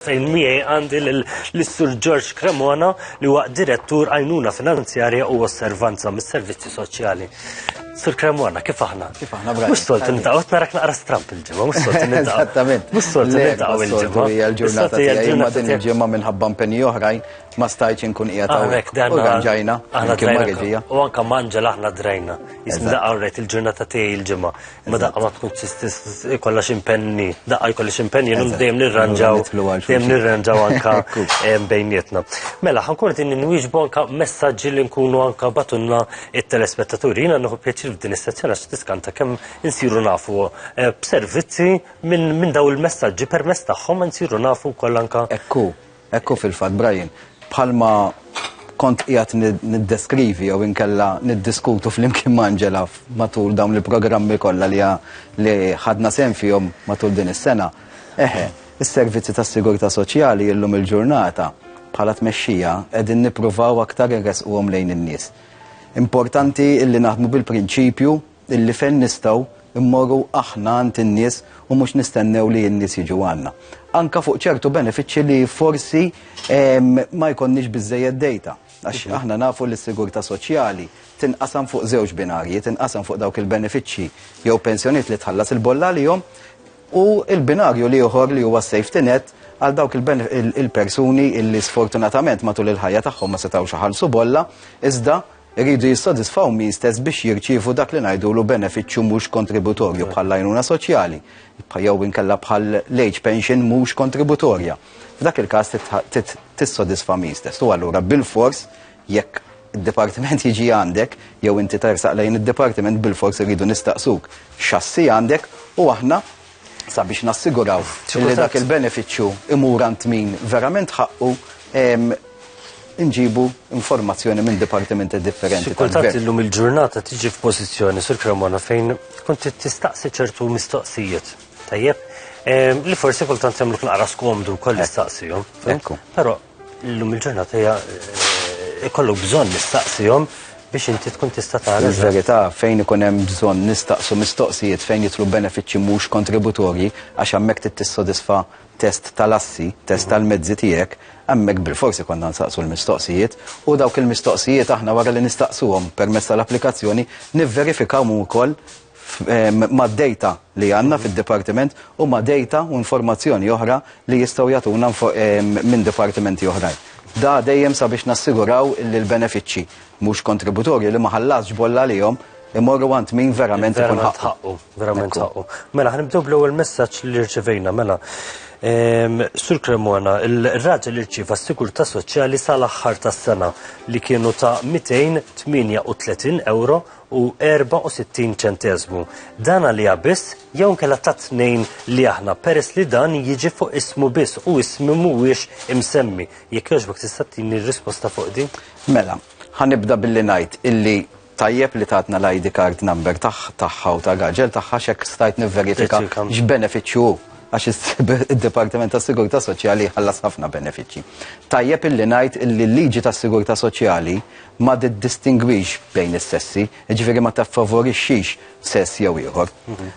fejn miegħi għandi lis-Sur George Cremona li huwa Direttur Għajnuna Finanzjarja u Osservanza mis-Servizzi Soċjali. Sur Cremona, kif aħna? Kif aħna bra? Mhux soltu nitaqgħu narak naqra stramp il-ġimgħa, mhux soltu nitaqgħu. Eżattament. Mhux soltu nitaqgħu il-ġimgħa. Hija l-ġurnata tiegħi ma din il-ġimgħa minħabba mpenji oħrajn ma stajtx inkun qiegħed hawnhekk. U dan ġajna, kien ma U anke manġel aħna drajna. Jisni daqqa il-ġurnata tiegħi il-ġimgħa. Ma daqqa ma tkun ikolla ximpenni, daqqa jkolli ximpenni, jenu dejjem nirranġaw, dejjem nirranġaw anka bejnietna. Mela, ħankun din nwieġbu anka messaġġi li nkunu anka batunna it-telespettaturi. Jina nħu pjaċir f'din is-sezzjoni għax tiskanta kemm insiru nafu eh, b'servizzi minn daw il-messaġġi permess tagħhom insiru nafu wkoll anka. Ekku, Hekk hu fil-fatt, Brian. Bħalma kont qiegħed niddeskrivi jew inkella niddiskutu flimkien ma' Angela matul dawn il-programmi kollha li li ħadna sehem fihom matul din is-sena. Eħe, is-servizzi tas-sigurtà soċjali illum il-ġurnata bħala tmexxija qegħdin nippruvaw aktar inressquhom lejn in-nies. Importanti illi naħdmu bil-prinċipju illi fejn nistgħu mmorru aħna għand in-nies u mhux nistennew li n-nies jiġu għandna. Anka fuq ċertu benefiċċji li forsi ma jkollniex biżżejjed dejta. Għax mhm. aħna nafu li s-sigurtà soċjali tinqasam fuq żewġ binarji, tinqasam fuq dawk il-benefiċċji jew pensjoniet li tħallas il-bolla lihom u il-binarju li uħor li huwa safety net għal dawk il-persuni illi sfortunatament matul il-ħajja tagħhom ma setgħux ħalsu bolla iżda iridu jissodisfaw min stess biex jirċievu dak li ngħidulu benefiċċju mhux kontributorju bħall-għajnuna soċjali jew inkella bħall-age pension mhux kontributorja. F'dak il-każ trid tissodisfa min stess. U allura bilfors jekk id-dipartiment jiġi għandek jew inti tersaq lejn id-dipartiment bilfors irridu nistaqsuk x'assi għandek u aħna sabiex nassiguraw li dak il-benefiċċju imur għand min verament ħaqqu, inġibu informazzjoni minn dipartimenti differenti. Kultant illum il-ġurnata tiġi f'pożizzjoni sur Cremona fejn kont tistaqsi ċertu mistoqsijiet. Tajjeb, li forsi kultant jagħmluk naqra skomdu wkoll nistaqsihom. Però Illum il-ġurnata hija ikollok bżonn nistaqsihom biex inti tkun tista' tara. Il-verità fejn ikun hemm bżonn nistaqsu mistoqsijiet fejn jitlu benefiċċji mhux kontributorji għax hemmhekk trid tissodisfa test tal-assi, test tal-mezzi tiegħek, hemmhekk bilfors ikollna nsaqsu l-mistoqsijiet u dawk il-mistoqsijiet aħna wara li nistaqsuhom permezz tal-applikazzjoni nivverifikaw ukoll ma' dejta li għandna fid-dipartiment u ma' dejta u informazzjoni oħra li jistgħu jagħtuna minn dipartimenti oħrajn. Da dejjem sabiex nassiguraw li l-benefiċċji mhux kontributorji li ma ħallasx bolla għalihom imorru għand min verament ikun ħaqqu. Verament ħaqqu. Mela ħanibdew bl-ewwel messaġġ li rċevejna mela. Ehm, Sur Cremona, il-raġel irċiva s-sigurta soċjali sal-aħħar tas-sena li kienu ta' 238 euro u 64 ċenteżmu. Dan għaliha biss jew inkella tat-tnejn li aħna peress li dan jiġi fuq ismu biss u ismi mhuwiex imsemmi. Jekk jogħġbok tista' tini r-risposta fuq din? Mela, ħanibda billi ngħid illi tajjeb li tatna l-ID card number tagħha u ta' raġel tagħha x'hekk stajt nivverifika x'benefiċċju hu għax id-Dipartiment tas Sigurtà Soċjali ħallas ħafna benefiċċji. Tajjeb illi ngħid illi l-liġi tas Sigurtà Soċjali ma tiddistingwix bejn is-sessi, jiġifieri ma tiffavorixxix sess jew ieħor.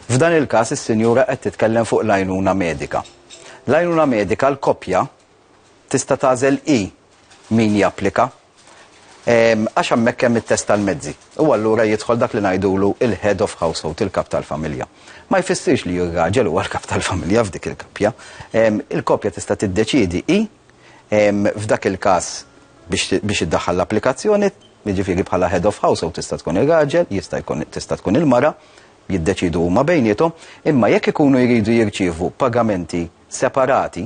F'dan il-każ is-sinjura qed titkellem fuq l-għajnuna medika. L-għajnuna medika l-koppja tista' tagħżel hi min japplika ehm, għax hemmhekk hemm it-test tal-mezzi. U allura jidħol dak li ngħidulu il-head of household, il-kap tal-familja. Ma jfissirx li r-raġel huwa l-kap tal-familja f'dik il-kappja. Ehm, il-koppja tista' tiddeċiedi hi F'dak il-każ biex iddaħħal l-applikazzjoni, jiġifieri bħala head of household tista' tkun ir-raġel, jista' jkun tista' tkun il-mara, jiddeċiedu huma bejniethom, imma jekk ikunu jridu jirċievu pagamenti separati,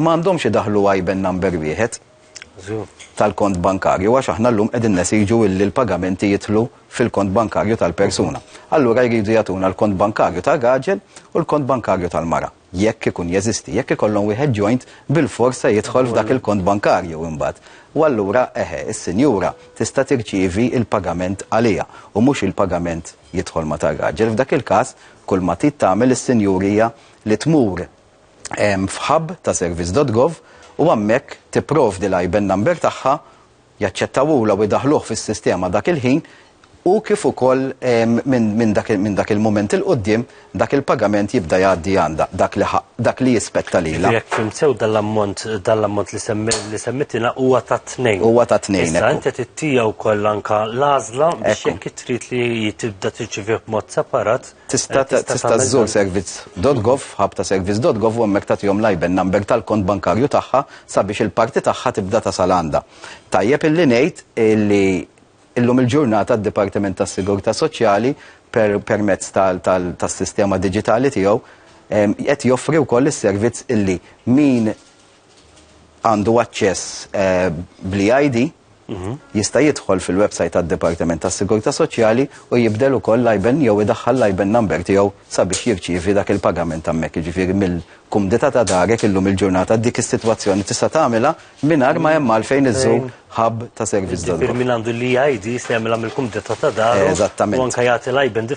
ma għandhomx idaħħlu IBAN number wieħed tal-kont bankarju għax aħna llum qegħdin nesiġu illi l-pagamenti jidħlu fil-kont bankarju tal-persuna. Allura jridu jagħtuna l-kont bankarju tar-raġel u l-kont bankarju tal-mara. jekk ikun jeżisti, jekk ikollhom wieħed joint bilfors se jidħol f'dak il-kont bankarju imbagħad. U allura, eħe, is-sinjura tista' tirċievi l-pagament għaliha u mhux il-pagament jidħol ma' tar-raġel. F'dak il-każ, kull ma trid tagħmel is-sinjur hija li tmur f'hub ta' service dot gov u hemmhekk tipprovdi l-IBAN number tagħha jaċċettawhula u jdaħħluh fis-sistema dak il-ħin u kif ukoll minn dak il-mument 'il quddiem dak il-pagament jibda jgħaddi għandha, dak li jispetta lilha. Jiġifieri jekk fhimt sew dan l-ammont dan l-ammont li semmiet jiena huwa tat-tnejn. Huwa tat-tnejn. Issa inti trid tiegħu wkoll anke l-għażla biex jekk trid li tibda tirċivih b'mod separat, Tista' tista' żżur servizz.gov, hub ta' servizz.gov u hemmhekk tagħtihom l-IBAN number tal-kont bankarju tagħha sabiex il-parti tagħha tibda tasal għandha. Tajjeb illi ngħid illi illum il-ġurnata d-Dipartiment tas-Sigurtà Soċjali per permezz tal tal tas-sistema diġitali tiegħu qed joffri wkoll is-servizz illi min għandu aċċess bl-e-ID, jista' jidħol fil-website tad-Dipartiment tas-Sigurtà Soċjali u jibdel ukoll l-IBAN jew idaħħal l-IBAN number tiegħu sabiex jirċievi dak il-pagament hemmhekk. Jiġifieri mill-kumdità ta' darek illum il-ġurnata dik is-sitwazzjoni tista' tagħmilha mingħajr ma hemm għalfejn iżżur hub ta' servizz. Jiġifieri min għandu l-e-ID jista' jagħmilha mill-kumdità ta' daru u anke jagħti l-IBAN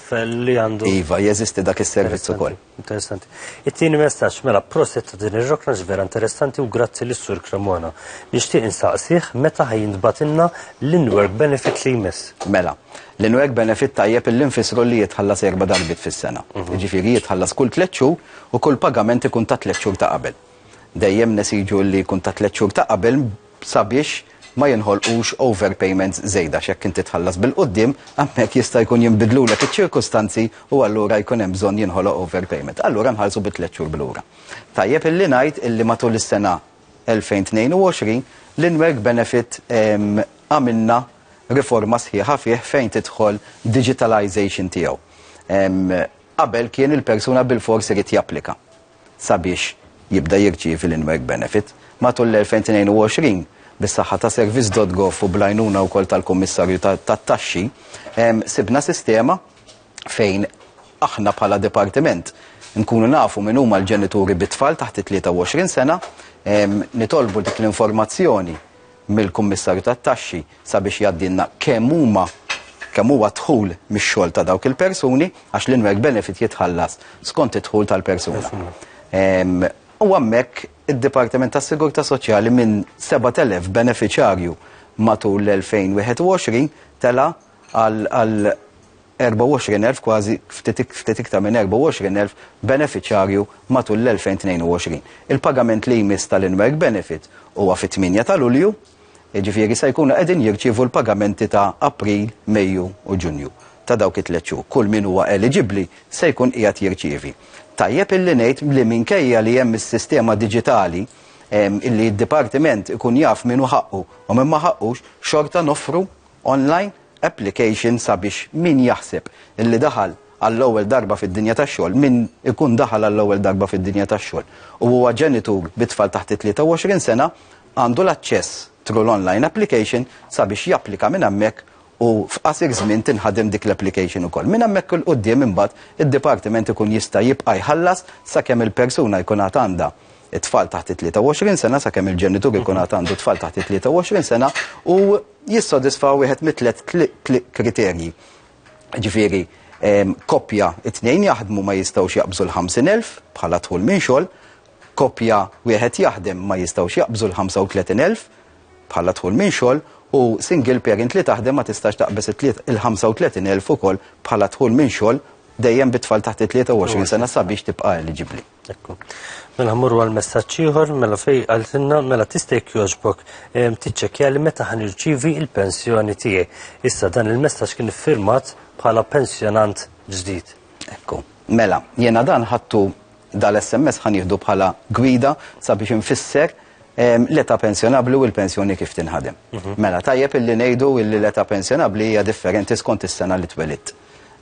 li għandu. Iva, jeżisti dak is-servizz ukoll. Interessanti. It-tieni messaġġ, mela proset ta' din ir-rokna vera interessanti u grazzi lis sur Cremona. Nixtieq insaqsih meta ħajintbatilna l-in-work benefit li jmiss. Mela, l-in-work benefit tajjeb illi nfissru li jitħallas erba' darbiet fis-sena. Jiġifieri jitħallas kull tliet xhur u kull pagament ikun tat-tliet xhur ta' qabel. Dejjem nesiġu li jkun ta' tliet xhur ta' qabel sabiex ma jinħolqux overpayments żejda għax jekk inti tħallas bil-quddiem, hemmhekk jista' jkun jinbidlulek iċ-ċirkustanzi u allura jkun hemm bżonn jinħoloq overpayment. Allura nħallsu bi tliet xhur 'l ura. Tajjeb illi ngħid illi matul is-sena 2022 l-in-work benefit għamilna riforma sħiħa fih fejn tidħol digitalization tiegħu. Qabel kien il-persuna bilfors irid japplika. sabiex jibda jirċievi l-in-work benefit. Matul l-2022, bis-saħħa ta' service.gov u bl-għajnuna wkoll tal-Kummissarju tat-Taxxi, sibna sistema fejn aħna bħala dipartiment nkunu nafu min huma l-ġenituri bit-tfal taħt it-23 sena, nitolbu dik l-informazzjoni mill-Kummissarju tat-Taxxi sabiex jgħaddilna kemm huma kemm huwa d-dħul mix-xogħol ta' dawk il-persuni għax l-in-work benefit jitħallas skont id-dħul tal-persuna. U hemmhekk id-Dipartiment tas-Sigurtà Soċjali minn 7,000 benefiċjarju matul l-2021 tela' għal 24,000, kważi ftit iktar minn 24,000 benefiċjarju matul l-2022. Il-pagament li jmiss tal-in-work benefit huwa fit-8 ta' Lulju, jiġifieri se jkunu qegħdin jirċievu l-pagamenti ta' April, Mejju u Ġunju ta' dawk it-tliet xhur. Kull min huwa eliġibbli se jkun qiegħed jirċievi. Tajjeb illi ngħid li minkejja li hemm is-sistema diġitali, illi d-dipartiment ikun jaf min hu ħaqqu u min ma ħaqqux, xorta noffru online application sabiex min jaħseb illi daħal għall-ewwel darba fid-dinja tax-xogħol, min ikun daħal għall-ewwel darba fid-dinja tax-xogħol u huwa ġenitur bi tfal taħt it-23 sena, għandu l-aċċess through l-online application sabiex japplika minn hemmhekk u f'qasir żmien tinħadem dik l-application ukoll. Minn hemmhekk 'il quddiem imbagħad id-dipartiment ikun jista' jibqa' jħallas sakemm il-persuna jkun għad għandha it-tfal taħt it-23 sena sakemm il-ġenitur ikun għad għandu tfal taħt it-23 sena u jissodisfa wieħed mit-tliet kriterji. Ġifieri, koppja it-tnejn jaħdmu ma jistgħux jaqbżu l-50,000 bħala tħul minn xogħol, koppja wieħed jaħdem ma jistgħux jaqbżu l-35,000 bħala tħul minn xogħol u single parent li taħdem ma tistax taqbeż il-35,000 ukoll bħala tħul minn xogħol dejjem bit-tfal taħt it-23 sena sabiex tibqa' eliġibbli. Ekku. Mela ħmurru għal messaġġ ieħor, mela fej għaltinna, mela tista' jekk jogħġbok ehm, tiċċekkja li meta ħan irċivi il-pensjoni tiegħi. Issa dan il-messaġġ kien iffirmat bħala pensjonant ġdid. Ekku. Mela, jena dan ħattu dal-SMS ħan jihdu bħala gwida sabiex infisser ehm, l-età pensjonabli u l-pensjoni kif tinħadem. Mhm. Mela, tajjeb illi ngħidu illi l-età pensjonabli hija differenti skont is-sena li twelidt.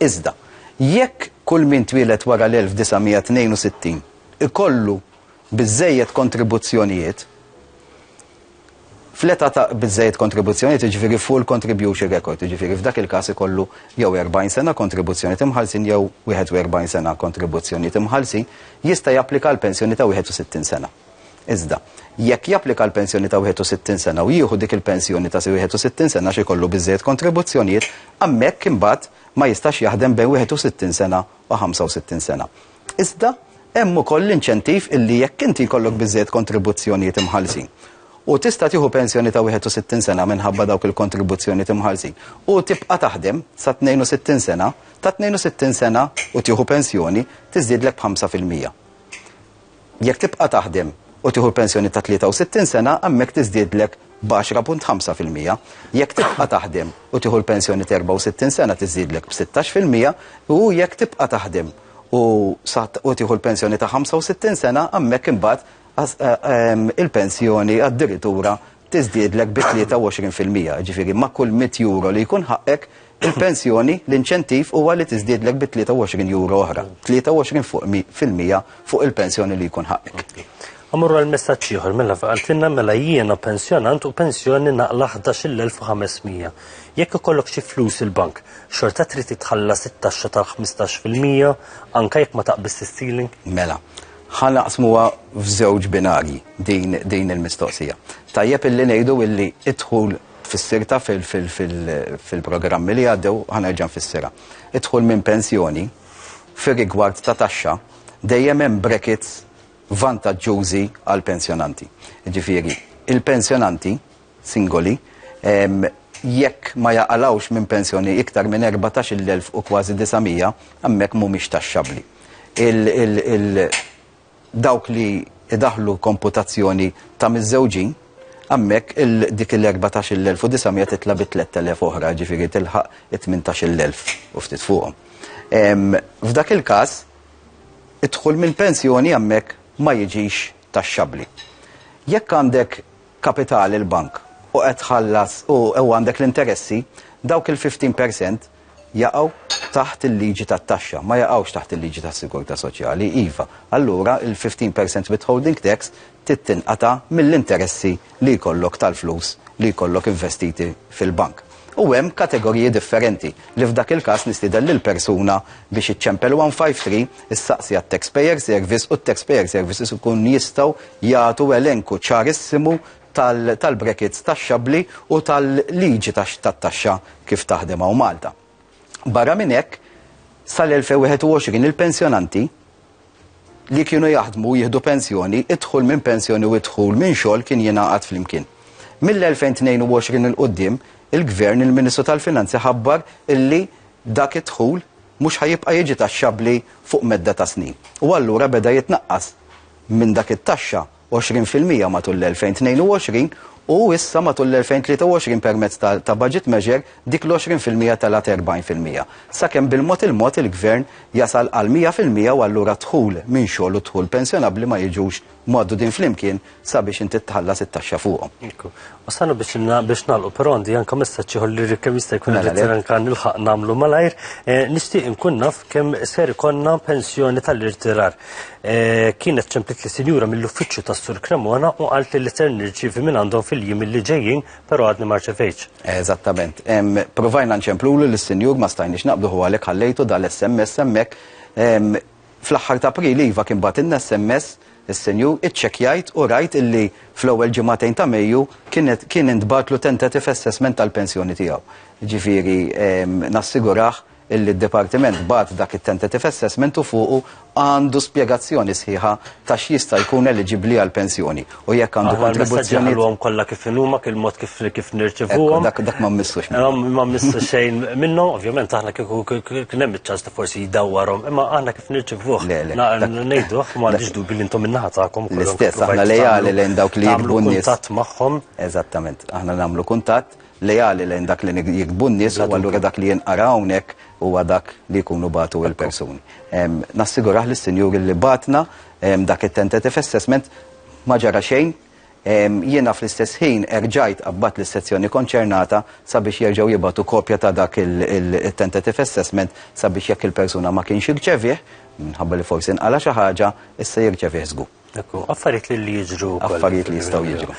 Iżda, jekk kull min twieled wara l-1962 ikollu biżżejjed kontribuzzjonijiet, fl-età ta' biżżejjed kontribuzzjonijiet, jiġifieri full contribution record, jiġifieri f'dak il-każ ikollu jew 40 sena kontribuzzjonijiet imħallsin jew 41 sena kontribuzzjonijiet imħallsin, jista' japplika għal pensjoni ta' 61 sena. Iżda, jekk japplika għal pensjoni ta' 61 sena u jieħu dik il-pensjoni ta' 61 sena għax ikollu biżżejjed kontribuzzjonijiet, hemmhekk imbagħad ma jistax jaħdem bejn 61 sena u 65 sena. Iżda, hemm ukoll l-inċentiv illi jekk inti jkollok biżżejjed kontribuzzjonijiet imħallsin u tista' tieħu pensjoni ta' 61 sena minħabba dawk il-kontribuzzjonijiet imħallsin u tibqa' taħdem sa 62 sena, ta' 62 sena u tieħu pensjoni tiżdiedlek b'5 fil-mija. Jekk tibqa' taħdem u tieħu l-pensjoni ta' 63 sena, hemmhekk tiżdiedlek b'għaxra punt ħamsa fil-mija. Jekk tibqa' taħdem u tieħu l-pensjoni ta' 64 sena tiżdiedlek b'sittax fil-mija u jekk tibqa' taħdem u sa u tieħu l-pensjoni ta' 65 sena, hemmhekk imbagħad il-pensjoni addirittura tiżdiedlek bi 23 fil-mija, jiġifieri ma' kull mitt euro li jkun ħaqqek, il-pensjoni, l-inċentiv huwa li tiżdiedlek bi 23 euro oħra, 23 fuq mi, fil-mija fuq il-pensjoni li jkun ħaqqek. A Mmorru għal messaġġ ieħor, mela qaltilna mela jiena pensjonant u pensjoni naqla 11,500. Jekk ikollok xi flus fil-bank, xorta trid tħallas it-taxxa tal-15 fil-mija anke jekk ma taqbiżx is-ceiling? Mela. Ħa naqsmuha f'żewġ binarji din din il-mistoqsija. Tajjeb illi ngħidu illi idħul tfissirta fil-programmi li għaddew ħanerġa' nfissirha. Idħul minn pensjoni fir-rigward ta' taxxa dejjem hemm brackets vantaġġużi għall-pensjonanti. Jiġifieri, il-pensjonanti singoli, jekk ma jaqalgħux minn pensjoni iktar minn 14-il elf u kważi 900, hemmhekk mhumiex taxxabbli. Dawk li jdaħħlu komputazzjoni ta' miżżewġin, hemmhekk dik il-14-il elf u 900 titla' bi 3,000 oħra, jiġifieri tilħaq it-tmintax-il elf u ftit fuqhom. F'dak il-każ, id-dħul mill-pensjoni hemmhekk ma jiġix taxxabbli. Jekk għandek kapitali il-bank u qed tħallas u u għandek l-interessi, dawk il-fifteen per cent jaqgħu taħt il-liġi tat-taxxa, ma jaqgħux taħt il-liġi tas-sigurtà soċjali, iva, allura il-fifteen per cent withholding tax trid tinqata' mill-interessi li jkollok tal-flus li jkollok investiti fil-bank. u hemm kategoriji differenti li f'dak il-każ nistieden lill-persuna biex iċċempel 153, issaqsi għat-Taxpayer Service u t-Taxpayer Services ikun jistgħu jagħtu elenku ċarissimu tal-brackets taxxabbli u tal-liġi tat-taxxa kif taħdem hawn Malta. Barra minn hekk, sal-2021 il-pensjonanti li kienu jaħdmu u jieħdu pensjoni, id-dħul minn pensjoni u d-dħul minn xogħol kien jingħaqad flimkien. Mill-2022 'il quddiem, il-Gvern, il-Ministru tal-Finanzi ħabbar illi dak id-dħul mhux ħa jibqa' jiġi taxxabbli fuq medda ta' snin. U allura beda jitnaqqas minn dak it-taxxa 20 fil-mija matul l-2022 u issa matul l-2023 permezz ta' budget measure dik l-20 fil-mija telgħet 40 fil-mija, sakemm bil-mod il-mod il-Gvern jasal għal 100 fil-mija u allura d-dħul minn xogħol u d-dħul pensjonabbli ma jiġux mgħaddudin flimkien sabiex inti tħallas it-taxxa fuqhom. U sanu biex biex nalqu, però għandi anka messaġġ ieħor li kemm jista' jkun Mela, irrid le. anka nilħaq nagħmlu malajr. Eh, Nixtieq inkun naf kemm ser ikonna pensjoni tal-irtirar. Eh, Kienet ċemplit li sinjura mill-uffiċċju tas-Sur Cremona u qalt li li ser nirċievi minn għandhom fil-jiem li ġejjin, però għadni ma rċevejtx. Eżattament. Em, Provajna nċemplulu lis-sinjur ma stajniex naqbdu huwa għalhekk ħallejtu dal-SMS hemmhekk. Em, Fl-aħħar ta' April iva kien bagħtilna SMS is-Sinjur, iċċekkjajt u rajt illi fl-ewwel ġimagħtejn ta' Mejju kienet kien intbagħatlu tentative assessment tal-pensjoni tiegħu. Jiġifieri nassigurah illi d-Dipartiment bagħat dak it-tentative assessment u fuqu għandu spjegazzjoni sħiħa ta' x'jista' jkun eliġibbli għall-pensjoni. U jekk għandu Aħna l-messaġġi kontribuzzjoni. ħalluhom kollha kif inhuma, kif mod kif kif Ekku, nirċevuhom. Dak dak ma mmissux. Imma ma missu xejn minnhom, ovvjament aħna kieku kien hemm iċ-ċans li forsi jdawwarhom, imma aħna kif nirċevuh. Le, le, na- dak- Ngħiduh, ma għandix dubi li intom min-naħa tagħkom. kollha L-istess, provajtu aħna lejali tagħmlu- lejn dawk li tagħmlu jikbu n-nies. kuntatt magħhom. Eżattament, aħna nagħmlu kuntatt lejali lejn dak li nig- jikbu n-nies u Bla allura dubju. dak li jinqara hawnhekk huwa dak li jkunu batu il-persuni. Em, Nassigurah lis-Sinjuri li batna Dak it-tentative assessment ma ġara xejn. Jiena fl-istess ħin erġajt qabbadt lis-sezzjoni konċernata sabiex jerġgħu jibgħatu kopja ta' dak it-tentative assessment sabiex jekk il-persuna ma kienx irċevieh, minħabba li forsi nqala' xi ħaġa, issa jirċevieh żgur. Affarijiet li jiġru wkoll. Affarijiet li jistgħu jiġru.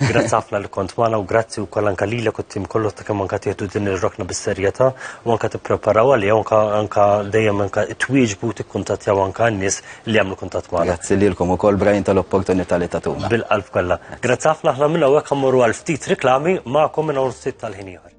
Grazzi ħafna li kont magħna u grazzi wkoll anke lilek u t-tim kollu ta' kemm anke tieħdu din ir-rokna bis-serjetà u anke tippreparaw għaliha u anke dejjem anke twieġbu u tikkuntattjaw anke n-nies li jagħmlu kuntatt magħna. Grazzi lilkom ukoll Brian tal-opportunità li tagħtuna. Bil-qalb kollha. Grazzi ħafna aħna minn hawnhekk mmorru għal ftit riklami magħkom minn hawn ftit tal-ħin ieħor.